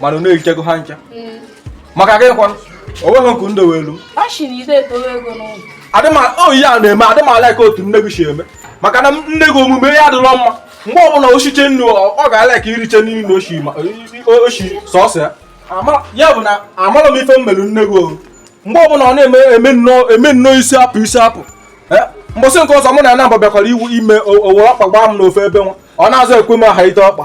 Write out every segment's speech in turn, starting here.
mana unu erichego ha ncha maka gị kwanụ o nweghị nke unu dowelu adịma ihe a ị na-eme adịmala ka otu nne gị si eme maka na nne gị omume ya adịrọ mma mgbe ọbụla o siche nri ọ ga-ala ka iriche nri na oshi oshi sọsọ ya ya bụ na amara m ife m mere nne gị ohu mgbe ọbụla ọ na-eme eme nnọọ isi apụ isi apụ eh? mbọsị nke ọzọ mụ na anambra bịakwara iwu ime o were ọkpa gbaa m n'ofe ebe nwa ọ na-azụ ekwe m aha ite ọkpa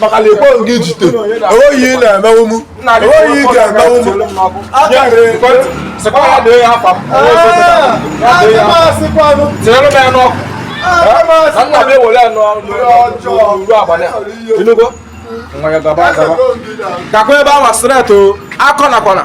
maka na ekwe gị jide enweghị ihe ị na-emenwu m enweghị ihe ị ga-emenwu m gakwa ebe ọ masịrị akọ na kwana